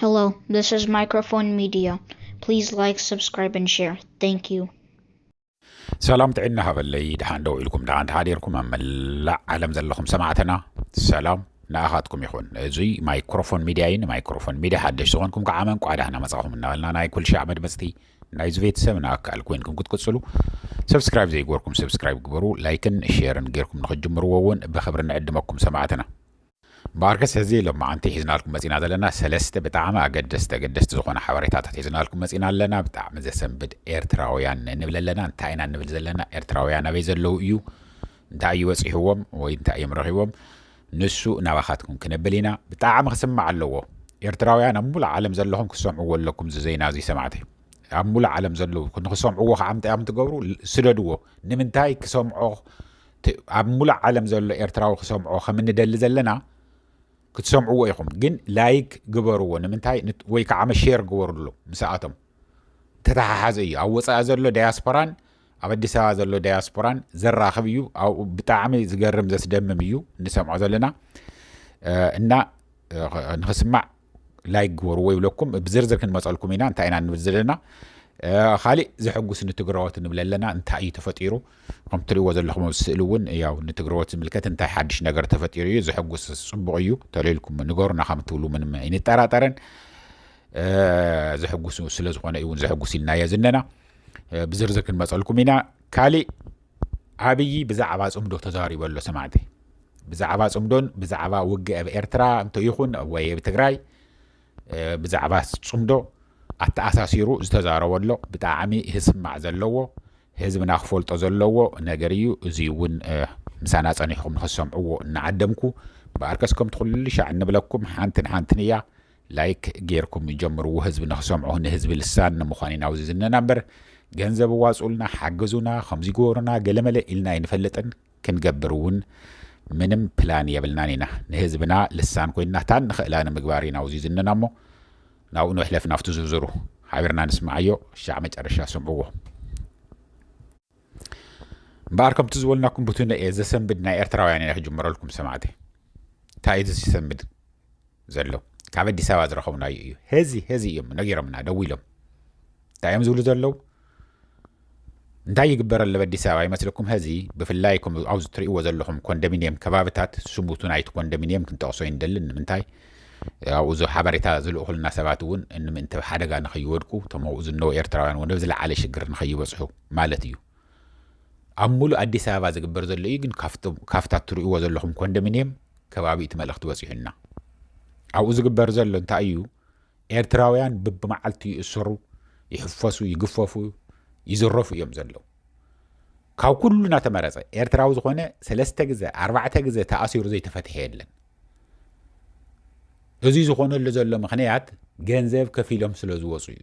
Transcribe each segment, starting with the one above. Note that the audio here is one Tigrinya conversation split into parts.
Hello, this is Microphone Media. Please like, subscribe, and share. Thank you. ሰላም ጥዕና ሃበለይ ድሓን ደው ኢልኩም ድሓን ተሓዲርኩም ኣብ መላእ ዓለም ዘለኹም ሰማዕትና ሰላም ንኣኻትኩም ይኹን እዙይ ማይክሮፎን ሚድያ እዩ ንማይክሮፎን ሚድያ ሓደሽ ዝኾንኩም ከዓ መን ቋዕ ዳህና መፃኹም እናበልና ናይ ኩል ሻዕ መድመፅቲ ናይዚ ቤተሰብ ንኣካል ኮይንኩም ክትቅፅሉ ሰብስክራይብ ዘይገበርኩም ሰብስክራይብ ግበሩ ላይክን ሼርን ጌርኩም ንክጅምርዎ እውን ብክብሪ ንዕድመኩም ሰማዕትና እምበኣርከስ ሕዚ ሎማዓንቲ ሒዝናልኩም መፂና ዘለና ሰለስተ ብጣዕሚ ኣገደስቲ ኣገደስቲ ዝኾኑ ሓበሬታታት ሒዝናልኩም መፂና ኣለና ብጣዕሚ ዘሰንብድ ኤርትራውያን ንብል ኣለና እንታይ ኢና ንብል ዘለና ኤርትራውያን ኣበይ ዘለዉ እዩ እንታይ እዩ በፂሕዎም ወይ እንታይ እዮም ረኺቦም ንሱ ናባኻትኩም ክነብል ኢና ብጣዕሚ ክስማዕ ኣለዎ ኤርትራውያን ኣብ ሙሉእ ዓለም ዘለኹም ክሰምዕዎ ኣለኩም እዚ ዜና እዚ ሰማዕቲ ኣብ ሙሉእ ዓለም ዘለዉ ንክሰምዕዎ ከዓ ምንታይ እዮም ትገብሩ ስደድዎ ንምንታይ ክሰምዖ እቲ ኣብ ሙሉእ ዓለም ዘሎ ኤርትራዊ ክሰምዖ ከም እንደሊ ዘለና ክትሰምዕዎ ኢኹም ግን ላይክ ግበርዎ ንምንታይ ወይ ከዓ መሼር ግበርሉ ምስኣቶም ተተሓሓዘ እዩ ኣብ ወፃኢ ዘሎ ዳያስፖራን ኣብ ኣዲስ ኣበባ ዘሎ ዳያስፖራን ዘራኽብ እዩ ኣብኡ ብጣዕሚ ዝገርም ዘስደምም እዩ እንሰምዖ ዘለና እና ንክስማዕ ላይክ ግበርዎ ይብለኩም ብዝርዝር ክንመፀልኩም ኢና እንታይ ኢና ንብል ዘለና ካሊእ ዘሐጉስ ንትግራዎት ንብል ኣለና እንታይ እዩ ተፈጢሩ ከም ትሪእዎ ዘለኹም ኣብ ስእሊ እውን ያው ንትግራዎት ዝምልከት እንታይ ሓድሽ ነገር ተፈጢሩ እዩ ዘሐጉስ ፅቡቕ እዩ ተለልኩም ንገሩና ከም ትብሉ ምንም ኣይንጠራጠርን ዘሐጉስ ስለ ዝኾነ እዩ እውን ዘሐጉስ ኢልናዮ ዝነና ብዝርዝር ክንመፀልኩም ኢና ካሊእ ኣብዪ ብዛዕባ ጽምዶ ተዛሪቡ ኣሎ ሰማዕተይ። ብዛዕባ ጽምዶን ብዛዕባ ውግእ ኣብ ኤርትራ እንተ ይኹን ወይ ኣብ ትግራይ ብዛዕባ ጽምዶ ኣተኣሳሲሩ ዝተዛረቦ ኣሎ ብጣዕሚ ህስማዕ ዘለዎ ህዝብና ክፈልጦ ዘለዎ ነገር እዩ እዙይ እውን ምሳና ጸኒሕኹም ንክትሰምዕዎ እናዓደምኩ በኣርከስ ከምቲ ኩሉ ሻዕ እንብለኩም ሓንትን ሓንትን እያ ላይክ ጌርኩም ጀምርዎ ህዝቢ ንክሰምዖ ንህዝቢ ልሳን ንምዃን ኢና ኣብዚ ዝነና እምበር ገንዘብ ኣዋጽኡልና ሓግዙና ከምዚ ግበሩና ገለመለ ኢልና ኣይንፈልጥን ክንገብር እውን ምንም ፕላን የብልናን ኢና ንህዝብና ልሳን ኮይና ታን ንኽእላ ንምግባር ኢና ኣብዚ ዝነና እሞ ናብኡ ንሕለፍ ናብቲ ዝርዝሩ ሓቢርና ንስማዓዮ ሻዕ መጨረሻ ስምዕዎ እምበኣር ከምቲ ዝበልናኩም ብቱነ እየ ዘሰንብድ ናይ ኤርትራውያን እየ ክጅምረልኩም ሰማዕቲ እንታይ እዩ ዝሰንብድ ዘሎ ካብ ኣዲስ ኣበባ ዝረኸብናዩ እዩ ሄዚ ሄዚ እዮም ነጊሮምና ደው ኢሎም እንታይ እዮም ዝብሉ ዘለዉ እንታይ ይግበር ኣለብ ኣዲስ ኣበባ ይመስለኩም ሀዚ ብፍላይ ኣብዚ ትሪእዎ ዘለኹም ኮንዶሚኒየም ከባብታት ስሙቱን ኣይቲ ኮንዶሚኒየም ክንጠቕሶ ይንደሊ ንምንታይ ኣብኡ ዞ ሓበሬታ ዝልእኹልና ሰባት እውን እንምእንቲ ኣብ ሓደጋ ንኸይወድቁ እቶም ኣብኡ ዝነው ኤርትራውያን እውን ኣብ ዝለዓለ ሽግር ንኸይበጽሑ ማለት እዩ። ኣብ ሙሉእ ኣዲስ ኣበባ ዝግበር ዘሎ እዩ ግን ካብታ እትርእይዎ ዘለኹም ኮንዶሚንየም ከባቢ እቲ መልእኽቲ በጺሑና። ኣብኡ ዝግበር ዘሎ እንታይ እዩ ኤርትራውያን ብብመዓልቱ ይእሰሩ፣ ይሕፈሱ፣ ይግፈፉ፣ ይዝረፉ እዮም ዘለዉ። ካብ ኩሉ እናተመረጸ ኤርትራዊ ዝኾነ ሰለስተ ግዘ ኣርባዕተ ግዘ ተኣሲሩ ዘይተፈትሐ የለን። እዚ ዝኾነሉ ዘሎ ምኽንያት ገንዘብ ከፊሎም ስለ ዝወፁ እዩ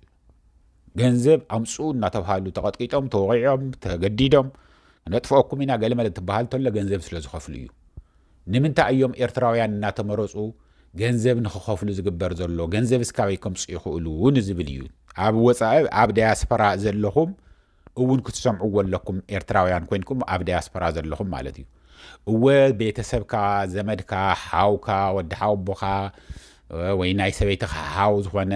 ገንዘብ ኣምፅኡ እናተብሃሉ ተቐጥቂጦም ተወቂዖም ተገዲዶም ነጥፍኦኩም ኢና ገለ መለ ትበሃል ተሎ ገንዘብ ስለ ዝኸፍሉ እዩ ንምንታይ እዮም ኤርትራውያን እናተመረፁ ገንዘብ ንክኸፍሉ ዝግበር ዘሎ ገንዘብ እስካበይ ከምፁ ይኽእሉ ንዝብል እዩ ኣብ ወፃኢ ኣብ ዳያስፖራ ዘለኹም እውን ክትሰምዕዎ ኣለኩም ኤርትራውያን ኮይንኩም ኣብ ዳያስፖራ ዘለኹም ማለት እዩ እወ ቤተሰብካ ዘመድካ ሓውካ ወዲ ሓውቦኻ ወይ ናይ ሰበይትኻ ሓው ዝኾነ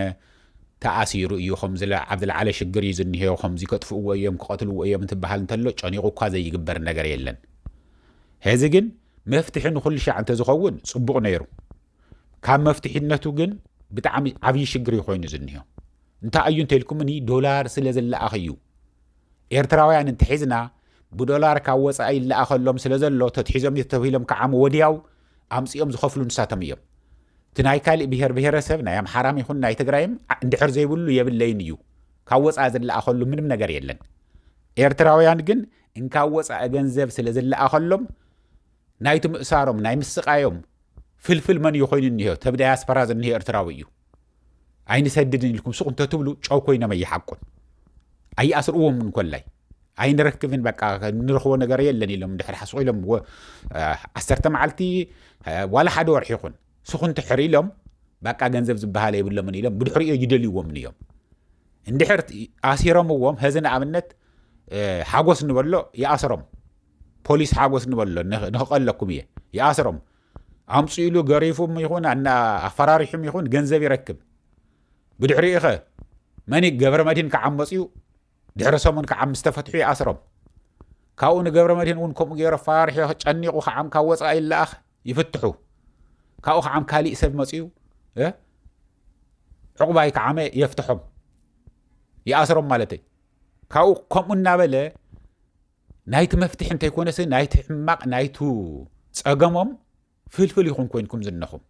ተኣሲሩ እዩ ከም ኣብ ዝለዓለ ሽግር እዩ ዝኒሄው ከምዚ ከጥፍእዎ እዮም ክቐትልዎ እዮም እንትበሃል እንተሎ ጨኒቑ እኳ ዘይግበር ነገር የለን ሕዚ ግን መፍትሒ ንኹሉ ሻዕ እንተዝኸውን ጽቡቕ ነይሩ ካብ መፍትሒነቱ ግን ብጣዕሚ ዓብዪ ሽግር እዩ ኮይኑ ዝኒሆ እንታይ እዩ እንተልኩምኒ ዶላር ስለ ዝለኣኽ እዩ ኤርትራውያን እንተሒዝና ብዶላር ካብ ወፃኢ ይለኣኸሎም ስለ ዘሎ ተትሒዞም ተተብሂሎም ከዓም ወዲያው ኣምፂኦም ዝኸፍሉ ንሳቶም እዮም እቲ ናይ ካሊእ ብሄር ብሄረሰብ ናይ ኣምሓራም ይኹን ናይ ትግራይም እንድሕር ዘይብሉ የብለይን እዩ ካብ ወፃኢ ዝለኣኸሉ ምንም ነገር የለን ኤርትራውያን ግን እንካብ ወፃኢ ገንዘብ ስለ ዝለኣኸሎም ናይቲ ምእሳሮም ናይ ምስቃዮም ፍልፍል መን እዩ ኮይኑ እኒሀ ተብ ዳያስፖራ ዝኒሀ ኤርትራዊ እዩ ኣይንሰድድን ኢልኩም ሱቅ እንተትብሉ ጨው ኮይኖም ኣይሓቁን ኣይኣስርዎም እንኮላይ ኣይንረክብን በቃ ንረኽቦ ነገር የለን ኢሎም ድሕሪ ሓስቑ ኢሎም ዓሰርተ መዓልቲ ዋላ ሓደ ወርሒ ይኹን ስኹን ትሕር ኢሎም በቃ ገንዘብ ዝበሃለ የብሎምን ኢሎም ብድሕሪኦ ይደልይዎምን እዮም እንድሕር ኣሲሮምዎም ሀዚ ንኣብነት ሓጎስ ንበሎ ይኣስሮም ፖሊስ ሓጎስ ንበሎ ንክቐለኩም እየ ይኣስሮም ኣምፅኡ ኢሉ ገሪፉም ይኹን ኣፈራሪሑም ይኹን ገንዘብ ይረክብ ብድሕሪኡ ኸ መኒ ገብረ መድህን ክዓመፅ እዩ ድሕሪ ሰሙን ክዓምስ ተፈትሑ ይኣስሮም ካብኡ ንገብረ መድህን እውን ከምኡ ገይሮ ኣፈራርሒ ጨኒቑ ከዓም ካብ ወፃኢ ይለኣኽ ይፍትሑ ካብኡ ከዓም ካሊእ ሰብ መፅኡ ዕቑባይ ከዓመ የፍትሖም ይኣስሮም ማለት እዩ ካብኡ ከምኡ እናበለ ናይቲ መፍትሒ እንተይኮነሲ ናይቲ ሕማቕ ናይቱ ጸገሞም ፍልፍል ይኹን ኮይንኩም ዝነኹም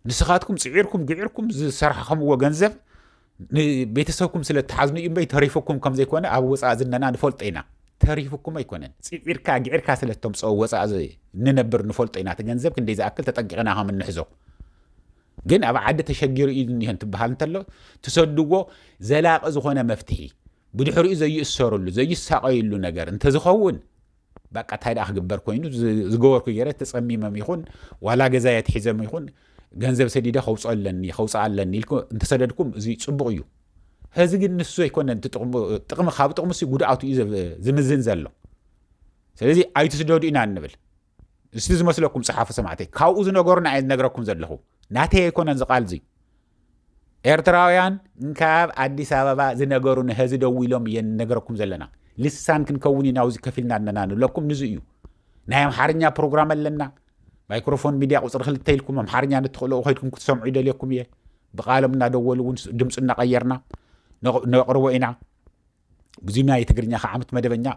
ንስኻትኩም ጽዒርኩም ግዒርኩም ዝሰራሕኸምዎ ገንዘብ ንቤተሰብኩም ስለ እትሓዝኑ እዩ እምበይ ተሪፉኩም ከም ዘይኮነ ኣብ ወፃእ ዝነና ንፈልጦ ኢና ተሪፉኩም ኣይኮነን ፅዒርካ ግዒርካ ስለ እተምፅኦ ወፃእ ንነብር ንፈልጦ ኢና እቲ ገንዘብ ክንደይ ዝኣክል ተጠንቂቕና ከም እንሕዞ ግን ኣብ ዓዲ ተሸጊሩ እዩ እኒሀ እንትበሃል እንተሎ ትሰድዎ ዘላቂ ዝኾነ መፍትሒ ብድሕሪኡ ዘይእሰርሉ ዘይሳቐይሉ ነገር እንተዝኸውን ባቃ እንታይ ደኣ ክግበር ኮይኑ ዝገበርኩ ገይረ ተፀሚመም ይኹን ዋላ ገዛ የትሒዘም ይኹን ገንዘብ ሰዲደ ከውፅኦ ኣለኒ ከውፅኣ ኣለኒ ኢልኩ እንተሰደድኩም እዚ ፅቡቕ እዩ ሕዚ ግን ንሱ ዘይኮነ ጥቕሚ ካብ ጥቕሚ ጉድኣቱ እዩ ዝምዝን ዘሎ ስለዚ ኣይትስደዱ ኢና እንብል እስቲ ዝመስለኩም ጸሓፉ ሰማዕተይ ካብኡ ዝነገሩና እየ ዝነግረኩም ዘለኹ ናተይ ኣይኮነን ዝቃል እዚ ኤርትራውያን እንካብ ኣዲስ ኣበባ ዝነገሩ ንህዚ ደው ኢሎም እየ ነገረኩም ዘለና ልሳን ክንከውን ኢና ውዚ ከፊልና ኣለና ንብለኩም ንዙ እዩ ናይ ኣምሓርኛ ፕሮግራም ኣለና ማይክሮፎን ሚድያ ቁፅሪ ክልተ ኢልኩም ኣምሓርኛ ንትኽእልኡ ከድኩም ክትሰምዑ ይደልየኩም እየ ብቃሎም እናደወሉ እውን ድምፂ እናቀየርና ነቅርቦ ኢና ብዙና የትግርኛ ከዓምት መደበኛ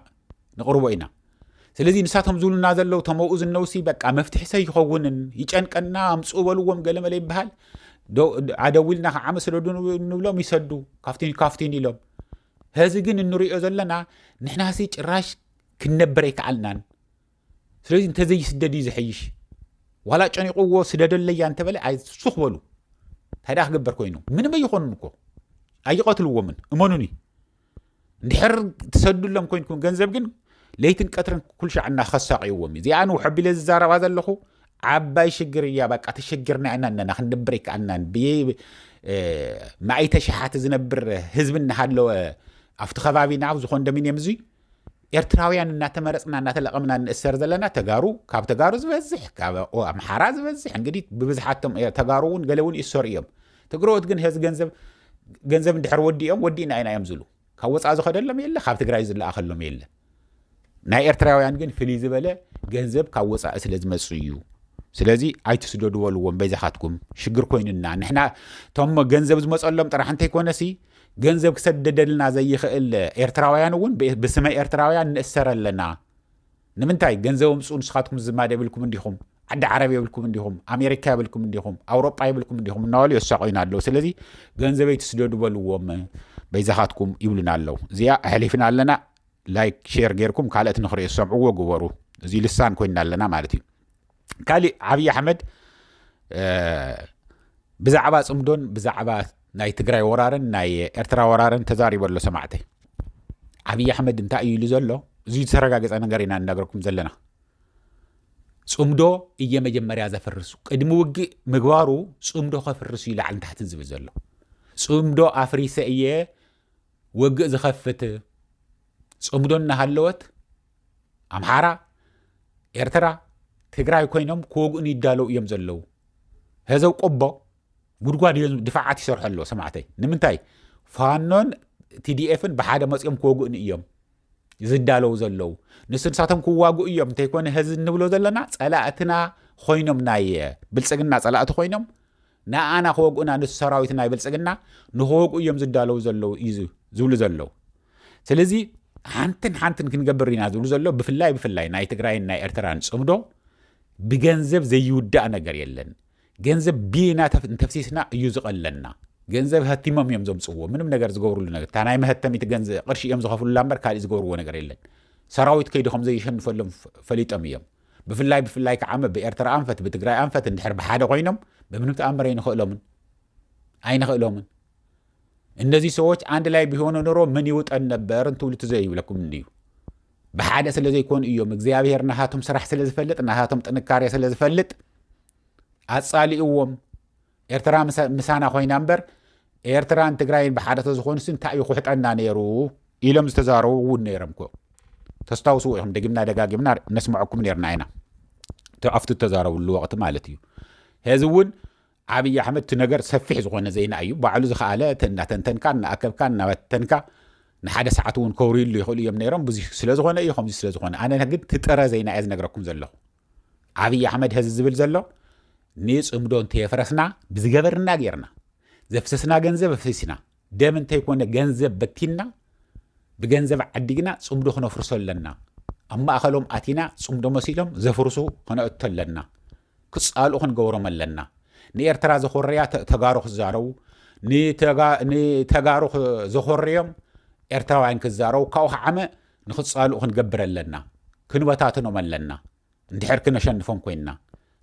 ንቕርቦ ኢና ስለዚ ንሳቶም ዝብሉና ዘለው ተመኡ ዝነውሲ በቃ መፍትሒ ሰ ይኸውንን ይጨንቀና ኣምፅ በልዎም ገለመለ ይበሃል ኣደዊልና ከዓመ ስደዱ ንብሎም ይሰዱ ካብቲን ካብቲን ኢሎም ህዚ ግን እንሪኦ ዘለና ንሕናሲ ጭራሽ ክንነብር ኣይከኣልናን ስለዚ እንተዘይስደድ እዩ ዝሐይሽ ዋላ ጨኒቕዎ ስደደለያ እንተበለ ኣይሱኽ በሉ እንታይ ደኣ ክገበር ኮይኑ ምንም ኣይኾኑን እኮ ኣይቐትልዎምን እመኑኒ እንድሕር ትሰዱሎም ኮይንኩም ገንዘብ ግን ለይትን ቀትርን ኩልሻዕ እናኸሳቂዎም እዩ እዚኣ ንውሐቢለ ዝዛረባ ዘለኹ ዓባይ ሽግር እያ በቃ ተሸግርና ኢና ኣለና ክንድብር ይከኣልናን ብማእይተ ሸሓት ዝነብር ህዝቢ እናሃለወ ኣብቲ ከባቢና ኣብዚ ኮንዶሚንየም እዙይ ኤርትራውያን እናተመረፅና እናተለቐምና እንእሰር ዘለና ተጋሩ ካብ ተጋሩ ዝበዝሕ ካብ ኣምሓራ ዝበዝሕ እንግዲህ ብብዝሓቶም ተጋሩ እውን ገለ እውን ይእሰሩ እዮም ትግረዎት ግን ህዚ ገንዘብ ገንዘብ እንድሕር ወዲኦም ወዲእና ኢና እዮም ዝብሉ ካብ ወፃእ ዝኸደሎም የለ ካብ ትግራይ ዝለኣኸሎም የለ ናይ ኤርትራውያን ግን ፍልይ ዝበለ ገንዘብ ካብ ወፃኢ ስለ ዝመፁ እዩ ስለዚ ኣይትስደዱ በልዎም በይዛኻትኩም ሽግር ኮይኑና ንሕና እቶም ገንዘብ ዝመፀሎም ጥራሕ እንተይኮነሲ ገንዘብ ክሰደደልና ዘይኽእል ኤርትራውያን እውን ብስመ ኤርትራውያን ንእሰር ኣለና ንምንታይ ገንዘብ ኣምፅኡ ንስኻትኩም ዝማድ የብልኩም እንዲኹም ዓዲ ዓረብ የብልኩም እንዲኹም ኣሜሪካ የብልኩም እንዲኹም ኣውሮጳ የብልኩም እንዲኹም እናበሉ የሳቆዩና ኣለዉ ስለዚ ገንዘበይ ትስደዱ በልዎም በይዛኻትኩም ይብሉና ኣለዉ እዚኣ ኣሕሊፍና ኣለና ላይክ ሼር ጌርኩም ካልኦት ንክሪኦ ዝሰምዕዎ ግበሩ እዚ ልሳን ኮይና ኣለና ማለት እዩ ካሊእ ዓብዪ ኣሕመድ ብዛዕባ ፅምዶን ብዛዕባ ናይ ትግራይ ወራርን ናይ ኤርትራ ወራርን ተዛሪበ ኣሎ ሰማዕተይ ዓብዪ ኣሕመድ እንታይ እዩ ኢሉ ዘሎ እዚ ዝተረጋገፀ ነገር ኢና እናገርኩም ዘለና ፅምዶ እየ መጀመርያ ዘፍርሱ ቅድሚ ውግእ ምግባሩ ፅምዶ ከፍርሱ እዩ ላዕልን ታሕትን ዝብል ዘሎ ፅምዶ ኣፍሪሰ እየ ወግእ ዝኸፍት ፅምዶ እናሃለወት ኣምሓራ ኤርትራ ትግራይ ኮይኖም ክወግኡን ይዳለው እዮም ዘለው ህዘብ ቆቦ ጉድጓድ እዮም ድፋዓት ይሰርሑ ኣለዎ ሰማዕተይ ንምንታይ ፋኖን ቲዲኤፍን ብሓደ መፅኦም ክወግኡን እዮም ዝዳለው ዘለው ንሱ ንሳቶም ክዋግኡ እዮም እንተይኮነ ህዚ እንብሎ ዘለና ፀላእትና ኮይኖም ናይ ብልፅግና ፀላእቲ ኮይኖም ንኣና ክወግኡና ነቲ ሰራዊት ናይ ብልጽግና ንክወግኡ እዮም ዝዳለው ዘለው እዩ ዝብሉ ዘለው ስለዚ ሓንትን ሓንትን ክንገብር ኢና ዝብሉ ዘሎ ብፍላይ ብፍላይ ናይ ትግራይን ናይ ኤርትራን ጽምዶ ብገንዘብ ዘይውዳእ ነገር የለን ገንዘብ ቢና እንተፍሲስና እዩ ዝቐለና ገንዘብ ሀቲሞም እዮም ዘምፅዎ ምንም ነገር ዝገብርሉ ነገር እታ ናይ መሀተሚት ገንዘብ ቅርሺ እዮም ዝኸፍሉላ እምበር ካልእ ዝገብርዎ ነገር የለን ሰራዊት ከይዲ ከም ዘይሸንፈሎም ፈሊጦም እዮም ብፍላይ ብፍላይ ክዓመ ብኤርትራ ኣንፈት ብትግራይ ኣንፈት እንድሕር ብሓደ ኮይኖም በምንም ተኣምር ኣይንኽእሎምን ኣይንኽእሎምን እነዚህ ሰዎች አንድ ላይ ቢሆኑ ኑሮ ምን ይውጠን ነበር እንትብሉ ትዘ ይብለኩም እንዩ ብሓደ ስለ ዘይኮኑ እዮም እግዚኣብሄር ናሃቶም ስራሕ ስለ ዝፈልጥ ናሃቶም ጥንካሬ ስለ ዝፈልጥ ኣጻሊእዎም ኤርትራ ምሳና ኮይና እምበር ኤርትራን ትግራይን ብሓደ ተዝኾኑስ እንታይ እዩ ኩሕጠና ነይሩ ኢሎም ዝተዛረቡ እውን ነይሮም ኮ ተስታውስዎ ኢኹም ደጊምና ደጋጊምና ነስምዐኩም ነርና ኢና ኣብቲ ተዛረብሉ ወቅቲ ማለት እዩ ሄዚ እውን ዓብዪ ኣሕመድ እቲ ነገር ሰፊሕ ዝኾነ ዜና እዩ ባዕሉ ዝኸኣለ እናተንተንካ እናኣከብካ እናበተንካ ንሓደ ሰዓት እውን ከውርዩሉ ይኽእሉ እዮም ነይሮም ብዙ ስለዝኾነ እዩ ከምዚ ስለዝኾነ ኣነ ግን ትጥረ ዜና እየ ዝነግረኩም ዘለኹ ዓብይ ኣሕመድ ሀዚ ዝብል ዘሎ ንፅምዶ እንተየፍረስና ብዝገበርና ጌርና ዘፍሰስና ገንዘብ ኣፍሲስና ደም እንተይኮነ ገንዘብ በቲንና ብገንዘብ ዓዲግና ፅምዶ ክነፍርሶ ኣለና ኣብ ማእኸሎም ኣቲና ፅምዶ መሲሎም ዘፍርሱ ክነእቶ ኣለና ክፃልኡ ክንገብሮም ኣለና ንኤርትራ ዘኾረያ ተጋሩ ክዛረቡ ንተጋሩ ዘኾረዮም ኤርትራውያን ክዛረቡ ካብኡ ክዓመ ንክጻልኡ ክንገብር ኣለና፣ ክንበታትኖም ኣለና፣ እንድሕር ክነሸንፎም ኮይንና።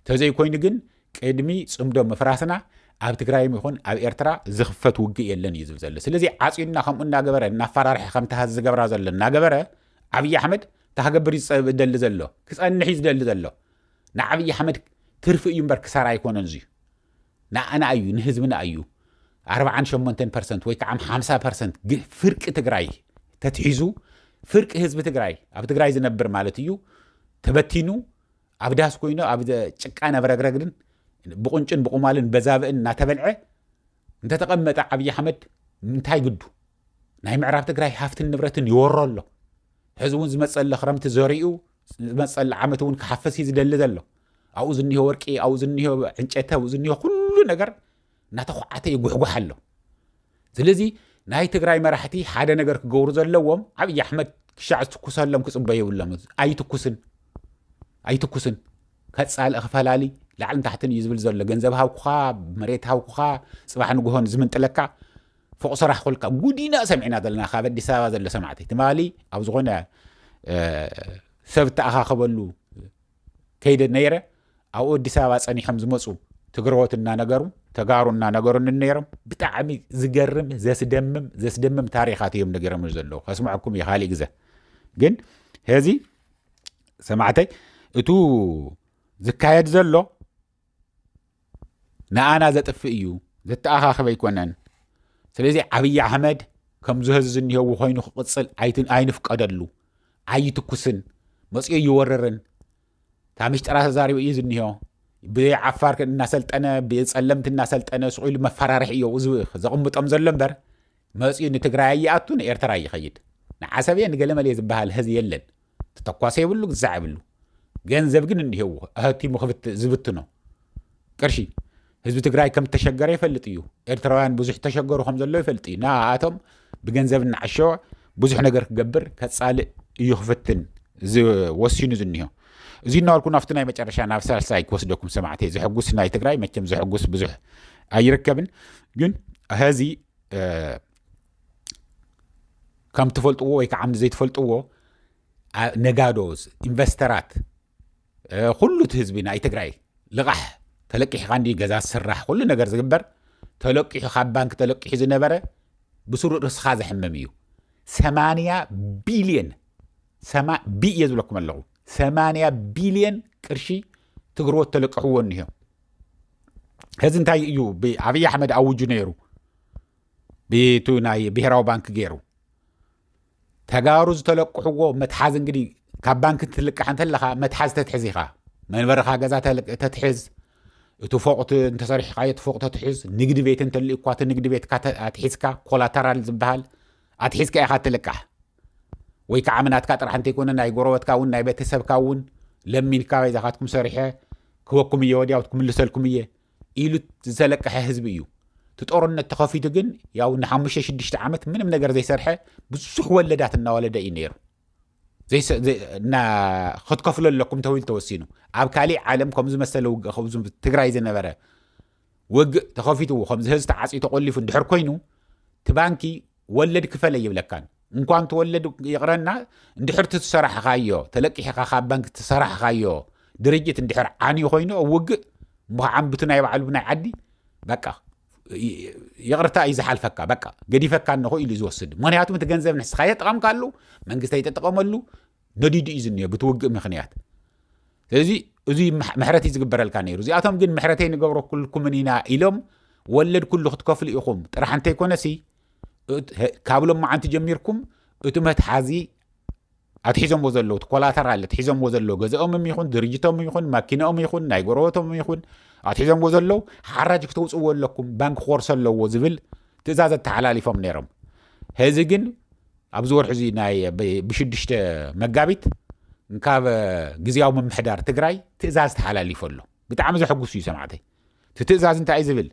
ተዘይኮይኑ ግን ቅድሚ ጽምዶ ምፍራስና ኣብ ትግራይም ይኹን ኣብ ኤርትራ ዝኽፈት ውግእ የለን እዩ ዝብል ዘሎ። ስለዚ ዓጺና ከምኡ እናገበረ እናፈራርሐ ከምቲ ሀዚ ዝገብራ ዘሎ እናገበረ ዓብዪ ኣሕመድ ታክገብር እዩ ዝደሊ ዘሎ ክጸንሕ እዩ ዝደሊ ዘሎ ንዓብዪ ኣሕመድ ትርፊ እዩ እምበር ክሳራ ኣይኮነን እዚዩ ንዓና እዩ ንህዝብና እዩ ኣርብዓን ሸሞንተን ፐርሰንት ወይ ከዓ ሓምሳ ፐርሰንት ፍርቂ ትግራይ ተትሒዙ ፍርቂ ህዝቢ ትግራይ ኣብ ትግራይ ዝነብር ማለት እዩ ተበቲኑ ኣብ ዳስ ኮይኑ ኣብ ጭቃን ኣብ ረግረግድን ብቁንጭን ብቁማልን በዛብእን እናተበልዐ እንተተቐመጠ ዓብዪ ኣሕመድ እንታይ ግዱ ናይ ምዕራብ ትግራይ ሃፍትን ንብረትን ይወሮ ኣሎ ሕዚ እውን ዝመፀለ ክረምቲ ዘሪኡ ዝመፀላ ዓመት እውን ክሓፈስ እዩ ዝደሊ ዘሎ ኣብኡ ዝኒሆ ወርቂ ኣብኡ ዝኒሆ ዕንጨተ ኣብኡ ዝኒሆ ኩሉ ነገር እናተኳዓተ ይጉሕጓሕ ኣሎ ስለዚ ናይ ትግራይ መራሕቲ ሓደ ነገር ክገብሩ ዘለዎም ዓብዪ ኣሕመድ ክሻዕ ዝትኩሰሎም ክፅበዩ የብሎም ኣይትኩስን ኣይትኩስን ከፃልእ ክፈላሊ ላዕልን ታሕትን እዩ ዝብል ዘሎ ገንዘብ ሃብኩኻ መሬት ሃብኩኻ ፅባሕ ንግሆን ዝምንጥለካ ፎቕ ሰራሕ ኮልካ ጉድ ኢና ሰሚዕና ዘለና ካብ ኣዲስ ኣበባ ዘሎ ሰማዕቲ ትማሊ ኣብ ዝኾነ ሰብ እተኣኻኸበሉ ከይደ ነይረ ኣብኡ ኣዲስ ኣበባ ጸኒሖም ዝመፁ ትግረዎት እናነገሩ ተጋሩ እናነገሩኒ ነይሮም ብጣዕሚ ዝገርም ዘስደምም ዘስደምም ታሪኻት እዮም ነገሮም ዘለዉ ከስምዐኩም እዩ ካሊእ ግዘ ግን ሄዚ ሰማዕተይ እቱ ዝካየድ ዘሎ ንኣና ዘጥፍእ እዩ ዘተኣኻኽብ ኣይኮነን ስለዚ ዓብዪ ኣሕመድ ከምዚ ህዚ ዝኒሄዎ ኮይኑ ክቕፅል ኣይንፍቀደሉ ኣይትኩስን መፅኦ ይወርርን እታ ምሽጥራ ተዛሪቡ እዩ ዝኒሆ ብዓፋር እናሰልጠነ ብፀለምቲ እናሰልጠነ ስቑኢሉ መፈራርሒ እዮ እዚ ዘቕምጦም ዘሎ እምበር መፅኡ ንትግራይ ይኣቱ ንኤርትራ ይኸይድ ንዓሰብየ ንገለመልየ ዝበሃል ህዚ የለን ክተኳሰ የብሉ ግዛዕ የብሉ ገንዘብ ግን እንሄዎ ኣህቲሙ ዝብትኖ ቅርሺ ህዝቢ ትግራይ ከም ተሸገረ ይፈልጥ እዩ ኤርትራውያን ብዙሕ ተሸገሩ ከም ዘሎ ይፈልጥ እዩ ንኣቶም ብገንዘብ እናዓሸወ ብዙሕ ነገር ክገብር ከፃልእ እዩ ክፍትን ወሲኑ ዝኒሆ እዚ እናበልኩ ናብቲ ናይ መጨረሻ ናብ ሳልሳይ ክወስደኩም ሰማዕቲ ዘሐጉስ ናይ ትግራይ መቸም ዘሐጉስ ብዙሕ ኣይርከብን ግን ሀዚ ከም ትፈልጥዎ ወይ ከዓ ዘይትፈልጥዎ ነጋዶ ኢንቨስተራት ኩሉ እቲ ህዝቢ ናይ ትግራይ ልቓሕ ተለቂሕካ እንዲ ገዛ ዝስራሕ ኩሉ ነገር ዝግበር ተለቂሑ ካብ ባንኪ ተለቂሑ ዝነበረ ብስሩ ርስኻ ዘሕምም እዩ ሰማንያ ቢልየን ቢ እየ ዝብለኩም ኣለኹ ሰማንያ ቢልየን ቅርሺ ትግርዎት ተለቅሕዎ እኒሆ ሕዚ እንታይ እዩ ብኣብዪ ኣሕመድ ኣውጁ ነይሩ ብቱ ናይ ብሄራዊ ባንኪ ገይሩ ተጋሩ ዝተለቅሕዎ መትሓዝ እንግዲ ካብ ባንኪ ትልቃሕ እንተለካ መትሓዝ ተትሕዝ ኢኻ መንበርኻ ገዛ ተትሕዝ እቲ ፎቅ እንተሰሪሕካ እቲ ፎቅ ተትሕዝ ንግዲ ቤት እንተልዩ እኳ እቲ ንግዲ ቤትካ ኣትሒዝካ ኮላተራል ዝበሃል ኣትሒዝካ ኢኻ ትልቃሕ ወይ ከዓ ምናትካ ጥራሕ እንተይኮነ ናይ ጎረበትካ እውን ናይ ቤተሰብካ እውን ለሚንካ ይዛኻትኩም ሰሪሐ ክበኩም እየ ወዲያው ክምልሰልኩም እየ ኢሉ ዝተለቀሐ ህዝቢ እዩ እቲ ጦርነት ተኸፊቱ ግን ያው ንሓሙሽተ ሽዱሽተ ዓመት ምንም ነገር ዘይሰርሐ ብዙሕ ወለዳት እናወለደ እዩ ነይሩ ክትከፍሎ ኣለኩም ተባሂሉ ተወሲኑ ኣብ ካሊእ ዓለም ከምዚ መሰለ ውግእ ከምዚ ትግራይ ዝነበረ ውግእ ተኸፊትዎ ከምዚ ህዝቢ ተዓፅዩ ተቆሊፉ እንድሕር ኮይኑ እቲ ባንኪ ወለድ ክፈል ኣይብለካን እንኳን ትወለድ ይቕረና እንድሕር ትሰራሕኻዮ ተለቂሕኻ ካብ ባንኪ ትሰራሕኻዮ ድርጅት እንድሕር ዓንዩ ኮይኑ ኣብ ውግእ እሞ ዓንብቱ ናይ ባዕሉ ብናይ ዓዲ በቃ ይቕርታ እዩ ዝሓልፈካ በቃ ገዲፈካ እንኹ ኢሉ ዝወስድ ምክንያቱም እቲ ገንዘብ ንስኻ የጥቐምካሉ መንግስቲ ኣይተጠቐመሉ ነዲዱ እዩ ዝኒኦ ብቲ ውግእ ምክንያት ስለዚ እዚ ምሕረት እዩ ዝግበረልካ ነይሩ እዚኣቶም ግን ምሕረተይ ንገብረኩልኩምን ኢና ኢሎም ወለድ ኩሉ ክትከፍሉ ኢኹም ጥራሕ እንተይኮነሲ ካብ ሎም መዓንቲ ጀሚርኩም እቲ መትሓዚ ኣትሒዞምዎ ዘለዉ እቲ ኮላተራ ኣለ ትሒዞምዎ ዘለዉ ገዛኦምም ይኹን ድርጅቶም ይኹን ማኪናኦም ይኹን ናይ ጎረበቶም ይኹን ኣትሒዞምዎ ዘለዉ ሓራጅ ክተውፅዎ ኣለኩም ባንኪ ክኮርሶ ኣለዎ ዝብል ትእዛዝ ኣተሓላሊፎም ነይሮም ህዚ ግን ኣብዚ ወርሒ እዚ ናይ ብሽዱሽተ መጋቢት እንካብ ግዝያዊ ምምሕዳር ትግራይ ትእዛዝ ተሓላሊፎ ኣሎ ብጣዕሚ ዘሐጉስ እዩ ሰማዕተይ እቲ ትእዛዝ እንታይ ዝብል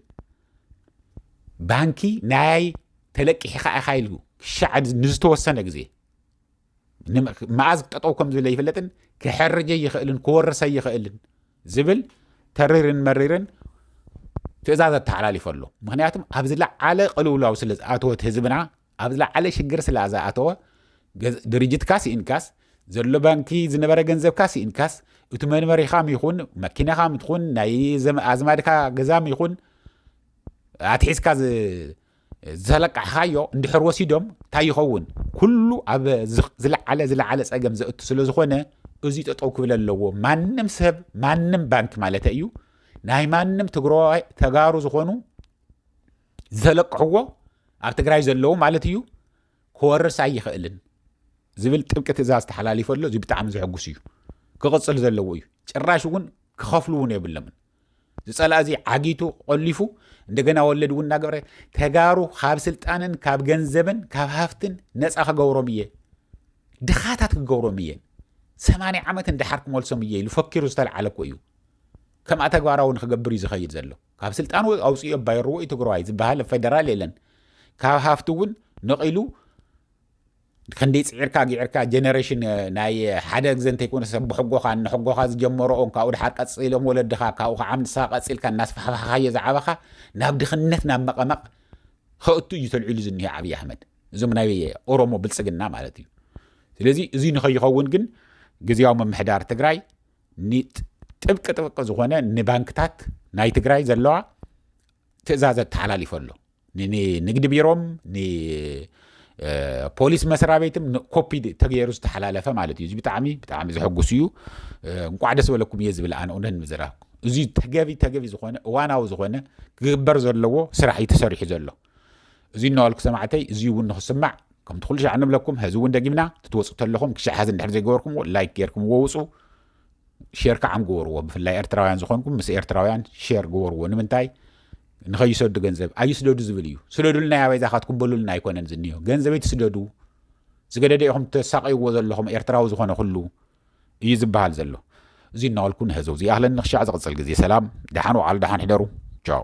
ባንኪ ናይ ተለቂሕካ ኢኻ ኢሉ ክሻዕ ንዝተወሰነ ግዜ መኣዝ ጠጠው ከም ዝብለ ይፍለጥን ክሕርጀ ይኽእልን ክወርሰ ይኽእልን ዝብል ተሪርን መሪርን ትእዛዝ ኣተሓላሊፈ ኣሎ ምክንያቱም ኣብ ዝለዓለ ቅልውላው ስለ ዝኣተወት ህዝብና ኣብ ዝለዓለ ሽግር ስላ ዝኣተወ ድርጅትካ ስኢንካስ ዘሎ ባንኪ ዝነበረ ገንዘብካ ስኢንካስ እቲ መንበሪኻ ይኹን መኪናኻ ትኹን ናይ ኣዝማድካ ገዛ ይኹን ኣትሒዝካ ዘለቃሕኻዮ እንድሕር ወሲዶም እንታይ ይኸውን ኩሉ ኣብ ዝለዓለ ዝለዓለ ፀገም ዘእቱ ስለ ዝኾነ እዚ ጠጠው ክብል ኣለዎ ማንም ሰብ ማንም ባንክ ማለት እዩ ናይ ማንም ትግራዋይ ተጋሩ ዝኾኑ ዘለቅሕዎ ኣብ ትግራይ ዘለዉ ማለት እዩ ክወርስ ኣይኽእልን ዝብል ጥብቂ ትእዛዝ ተሓላሊፈ ኣሎ እዚ ብጣዕሚ ዘሕጉስ እዩ ክቕፅል ዘለዎ እዩ ጭራሽ እውን ክኸፍሉ እውን የብለምን ዝፀላእ እዚ ዓጊቱ ቆሊፉ እንደገና ወለድ እውን እናገበረ ተጋሩ ካብ ስልጣንን ካብ ገንዘብን ካብ ሃፍትን ነፃ ክገብሮም እየ ድኻታት ክገብሮም እየ ሰማንያ ዓመት እንዳሓር ክመልሶም እየ ኢሉ ፈኪሩ ዝተለዓለ እኮ እዩ ከምኣ ተግባራዊ ንክገብር እዩ ዝኸይድ ዘሎ ካብ ስልጣን ኣውፅእዮ ባይርዎ እዩ ትግራዋይ ዝበሃል ኣብ ፌደራል የለን ካብ ሃፍቲ እውን ነቒሉ ክንደይ ፅዒርካ ጊዕርካ ጀነሬሽን ናይ ሓደ ግዘ እንተይኮነ ሰብ ብሕጎኻ ንሕጎኻ ዝጀመረኦም ካብኡ ድሓር ቀፂሎም ወለድኻ ካብኡ ከዓ ንስኻ ቀፂልካ እናስፋሕፋሕካዮ ዝዓበኻ ናብ ድኽነት ናብ መቐመቕ ከእቱ እዩ ተልዒሉ ዝኒሄ ዓብዪ ኣሕመድ እዞም ናይ ኦሮሞ ብልፅግና ማለት እዩ ስለዚ እዚ ንኸይኸውን ግን ግዜያዊ ምምሕዳር ትግራይ ጥብቂ ጥብቂ ዝኾነ ንባንክታት ናይ ትግራይ ዘለዋ ትእዛዘ ተሓላሊፈ ኣሎ ንንግዲ ቢሮም ንፖሊስ መስራ ቤትም ኮፒ ተገይሩ ዝተሓላለፈ ማለት እዩ እዚ ብጣዕሚ ብጣዕሚ ዘሐጉስ እዩ እንቋዕ ደስ በለኩም እየ ዝብል ኣነ እውነት ንምዝራብ እዚ ተገቢ ተገቢ ዝኾነ እዋናዊ ዝኾነ ክግበር ዘለዎ ስራሕ እዩ ተሰሪሑ ዘሎ እዚ እናበልኩ ሰማዕተይ እዚ እውን ንክስማዕ ከምቲ ኩሉ ሻዕ ንብለኩም ሀዚ እውን ደጊምና ትትወፁ ተለኹም ክሻዕ ሀዚ እንድሕር ዘይገበርኩምዎ ላይክ ጌርኩምዎ ውፁ ሼር ከዓ ግበርዎ ብፍላይ ኤርትራውያን ዝኾንኩም ምስ ኤርትራውያን ሼር ግበርዎ ንምንታይ ንኸይሰዱ ገንዘብ ኣይስደዱ ዝብል እዩ ስደዱልና ኣበይ ዛኻትኩም በሉልና ኣይኮነን ዝኒዮ ገንዘበይ ትስደዱ ዝገደደ ኢኹም ተሳቀይዎ ዘለኹም ኤርትራዊ ዝኾነ ኩሉ እዩ ዝበሃል ዘሎ እዚ እናበልኩ ንህዘው ዝይኣህለኒ ክሻዕ ዝቕፅል ግዜ ሰላም ደሓን ውዓሉ ደሓን ሕደሩ ቻው